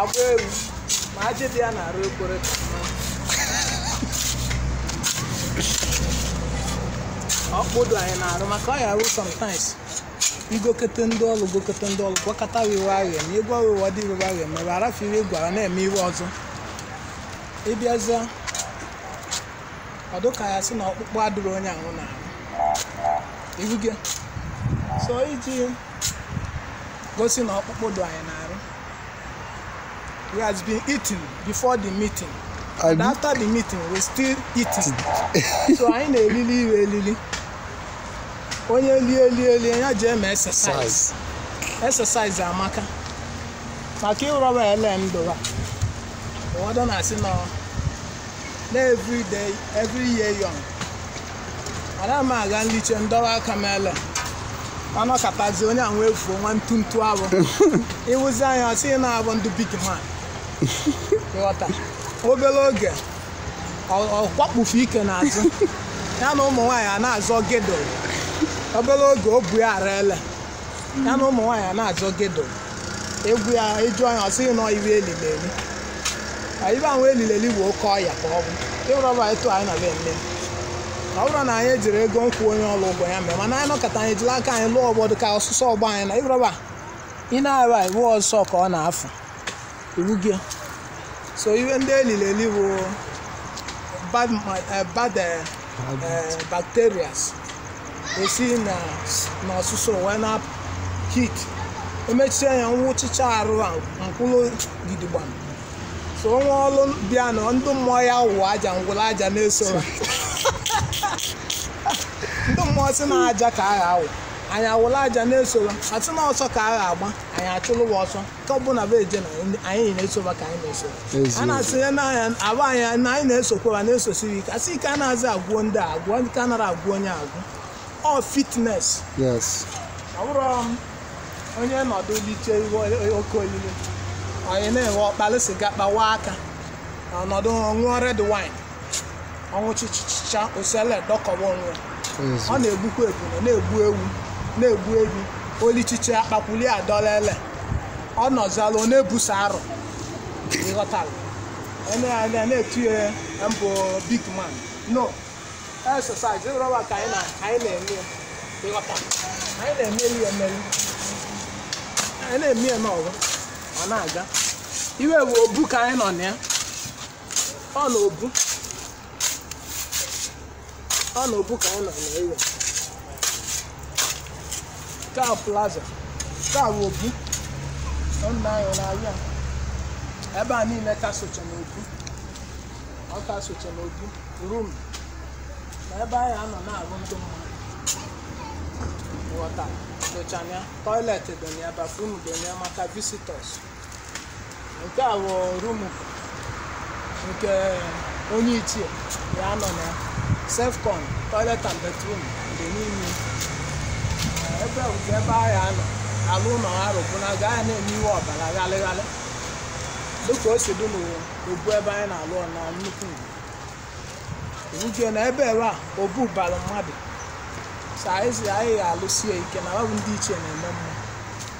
agba ewu ma ajị dị ya n'arụ ekwere ka mma. ọkpụkpụ dụ anyị n'arụ maka ọ ya arụ sometimes i gokete ndị ọrụ gokete ndị ọrụ gwakọta wiwe ahịa na egwu wiwe dị wiwe ahịa mere arafiri egwu ara na-eme iwe ọzọ ị bịazịa ọ dụ ka a sị na ọkpụkpụ adịrọ onye ahụ na ibuge so iji gosi na ọkpụkpụ dụ anyị n'arụ we has been eating before the meeting and after the meeting we still eating so anyị na-elili iwe elili onye lie lie lie ya ji eme exercise exercise amaka maka ịrọba ele ndọra ụfọdụ na-asị na every day every year young ana m aga nliche ndọwa aka m ele a nọkatazi onye a wee fuo nwa ntuntu abụ ị wụzi anyị ọ sị na a bụ ndị big man ị ghọta obere oge ọ- ọ kwakpufu ike n'azụ ya na ụmụ nwaanyị a na-azọ girdle obere oge o bu ya ara ele ya na ụmụ nwaanyị a na-azọ girdle egwu ya eju anya ọ sị na ọ iwe elili eli iwe ahụ elili eli bụ oke ọya ka ọ bụ ịrọba etu anyị na be nne ọ bụrụ na anyị ejiri ego kwụọ onye ọrụ ụgwọ ya mee mana anyị nọkọta anyị jiri aka anyị lụọ obodo ka ọsụsọ gbaa anyị na ịrọba ị na-arụ anyị ọsụsọ ka ọ na-afụ Iwu gị o. So iwe ndị elili eli bụ bad, ma- eh, bad eh, eh, bacterias esi na n'ọsụsọ wee na-apụ heat emechie ya nwụchicha arụ akwụrụ gidigbam so o nwe ọlụ bịa na ndị mmụọ ya wụ aja ngwụrụ aja na-eso ha. ndị mmụọ sị na aja ka a ga-awụ anyị awụlụ aja na-esoro a sị na ọsọ ka a ga-agba anyị achụlụ wa ọsọ ka ọ bụna bụ eje na anyị- anyị na-esoba ka anyị na-eso Eziokwu. a na-asịnye na anyị abụ anyị na anyị na-esokwa ma na-esosiri ike asị ike anazị agwụ ndị a agwụ ndị ka anara agwụ onye agwụ ọ fitness yes ọ bụrụ onye nọdụ liche iwe oke olile onye na-enwe ọ kpalị siga kpawa aka ọ nọdụ ṅụọ red wine ọ ṅụchịchịcha osiala edọkọwa onwe ya. ọ na-egbukwa ebune na-egbu ewu na-egbu ehi o lichicha akpakwuli adọla ele ọ nọzalụ ọ na-ebusa arụ ị ghọtara e ne ya anya na-etu ya m bụ big man no exercise ịrọba ka anyị na- ka anyị na-eme ya. ị ghọta anyị na-emeri ya emeri anyị na-eme ya n'ọgụ ọ na-aga iwe bụ obu ka anyị nọ na ya ọ na obu ọ na obu ka anyị nọ na iwe ka plaza ka bụ obu ọ nna anyị na ahịa ebe a niile ka socha na obu ọ ka socha na obu room na ebe anyị anọ na-arụ ndị mmadụ water socha ya toilet dị na ya bathroom dị na ya maka visitors nke a bụ room nke onye ichie ya nọ na ya self-con toilet and bathroom dị n'ime Eh, ebe bụ ka ebe ahụ anọ alụ ụlọ ha rụbụna gaa ya na-eme iwe ọ bara ghalịghalị dịka o si dị n'obu ebe anyị na-alụ ọ na nnukwu ugwu uche na ebe ebe a obu bara mmadụ so anyị si anyị ga-alụsie ike na ọ bụ ndị ichie na-eme mma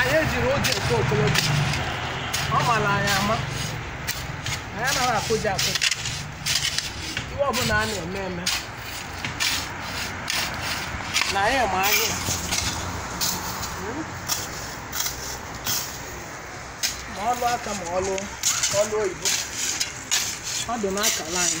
anyị ejiri oge nke okolobịa ọ mara anyị ama anyị anaghị akụja akụja iwe ọbụla a na-eme eme na anyị ma anyị ma ọlụ aka ma ọlụ ọlụ oyibo ọ dị n'akala anyị